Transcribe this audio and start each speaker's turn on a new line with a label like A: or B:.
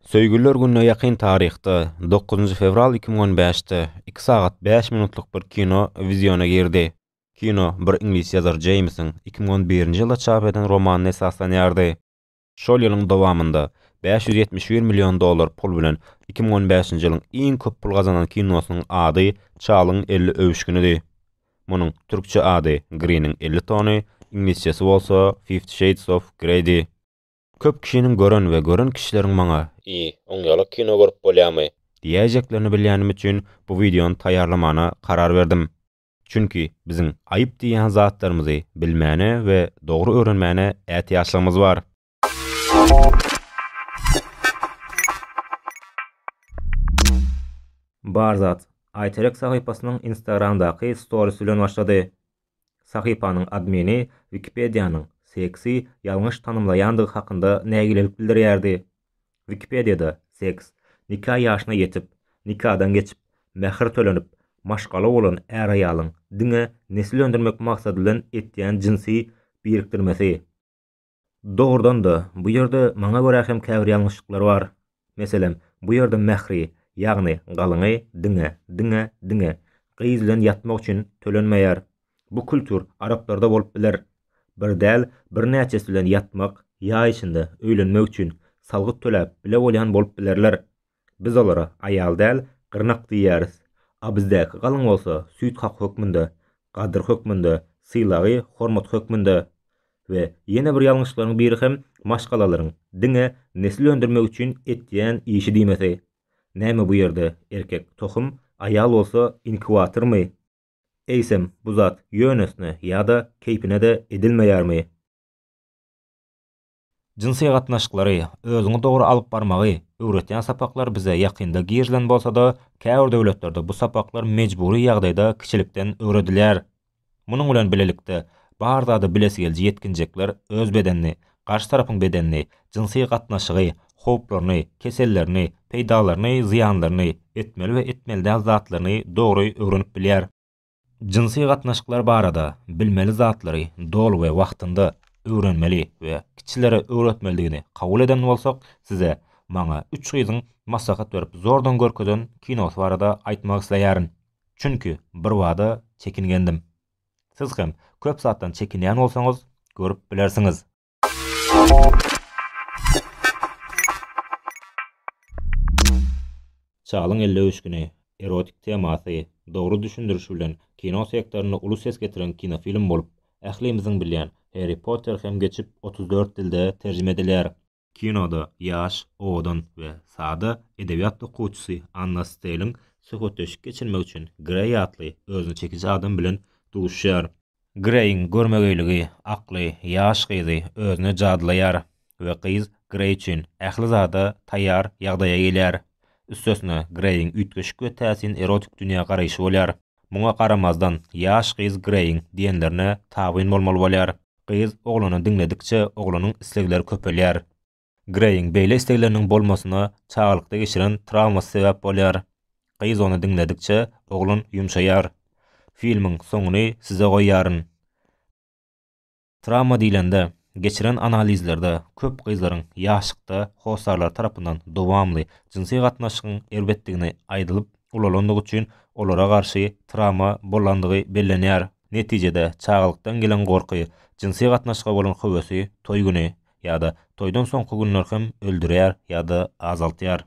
A: Söýgüliler gününe ýakyn taryhda, dokuzynjy fewral iki müň on bäşde, iki sagat bäş minutlyk bir kino wiziona girdi. Kino bir iňlis ýazar Jeýmsiň iki müň on birinji ýylda çap eden romanyna esaslanýardy. Şol ýylyň dowamynda bäş ýüz ýetmiş bir million dollar pul bilen iki müň on bäşinji ýylyň iň köp pul gazanan kinosynyň ady Çalyň elli öwüşginidi. Munuň türkçe ady Griniň elli tony, iňlisçesi bolsa Fifty Shades of Greydi. Köp kişiniň gören we gören kişileriň maňa. I, oň ýalak kino görüp bolýamy? Diýäýjeklerini bilýänim üçin bu wideony taýýarlamana karar berdim. Çünki biziň aýyp diýýän zatlarymyzy bilmäne we dogry öwrenmäne ätiýaçlygymyz bar. Bar zat, Aýterek sahypasynyň Instagramdaky storis bilen başlady. Sahypanyň admini Wikipediýanyň seksi ýalňyş tanymlaýandygy hakynda nägilelik bildirýärdi. Wikipediýada seks, nika ýaşyna ýetip, nikadan geçip, mähir tölenip, maşgala bolan är-aýalyň diňe nesil öndürmek maksady bilen etýän jynsy birikdirmesi, Dogrudan-da, bu ýerde maňa görä hem käbir ýalňyşlyklar bar. Meselem, bu ýerde mähri, ýagny galyňy diňe, diňe, diňe, gyz bilen ýatmak üçin tölenmeýär. Bu kültur araplarda bolup biler. Bir däl, birnäçesi bilen ýatmak, ýa içinde, öýlenmek üçin, salgyt töläp, bile bolýan bolup bilerler. Biz olara aýal däl, gyrnak diýýäris. A bizdäki galyň bolsa süýt hak hökmünde, gadyr hökmünde, sylagy hormat hökmünde. We ýene bir ýalňyşlaryň biri hem maşgalalaryň diňe nesil öndürmek üçin etýän işi diýmesi. Näme bu ýerde erkek tohum, aýal bolsa inkubatormy? Eýsem bu zat ýönesine ýa-da keýpine-de edilmeýärmi? Jynsy gatnaşyklary, özüňi dogry alyp barmagy öwretýän sapaklar bize ýakynda girilen bolsa-da, käbir döwletlerde bu sapaklar mejbury ýagdaýda kiçilikden öwredilýär. Munuň bilen bilelikde, bar zady bilesi geliji ýetginjekler öz bedenini, garşy tarapyň bedenini, jynsy gatnaşygy, howplaryny, kesellerini, peýdalaryny, zyýanlaryny, etmeli we etmeli däl zatlaryny dogry öwrenip bilýär. Jynsy gatnaşyklar barada bilmeli zatlary doly we wagtynda öwrenmeli we kiçilere öwretmelidigini kabul eden bolsak size maňa üç gyzyň maslahat berip zordan görkezen kinosy barada aýtmak isleýärin. Çünki birbada çekingendim. Siz hem köp zatdan çekinýän bolsaňyz görüp bilersiňiz. Çalyň elli öwüşgini, erotik temasy, dogry düşündirişi bilen kino sektorynda uly ses getiren kinofilm bolup, ählimiziň bilýän Harry Potter hem geçip otuz dört dilde terjime edilýär. Kinoda ýaş, owadan we sada edebiýat okuwçysy Anna Steliň söhbetdeşlik geçirmek üçin Greý atly özüne çekiji adam bilen duşýar. Greýiň görmegeýligi akly ýaş gyzy özüne jadylaýar we gyz Greý üçin ähli zada taýýar ýagdaýa gelýär. Üstesine, Greýiň üýtgeşik we täsin erotik dünýä garaýşy bolýar. Muňa garamazdan, ýaş gyz Greýiň diýenlerine tabyn bolmaly bolýar. Gyz oglany diňledikçe, oglanyň islegleri köpelýär. Greýiň beýle islegleriniň bolmasyna çagalykda geçiren trawmasy sebäp bolýar. Gyz ony diňledikçe, oglan ýumşaýar. Filmiň soňuny size goýýaryn. Trawma diýlende, geçiren analizlerde köp gyzlaryň ýaşlykda hossarlary tarapyndan dowamly jynsy gatnaşygyň erbetdigini aýdylyp ulalandygy üçin olara garşy trawma bolandygy bellenýär. Netijede, çagalykdan gelen gorky, jynsy gatnaşyga bolan höwesi, toý güni, ýa-da toýdan soňky günler hem öldürýär ýa-da azaltýar.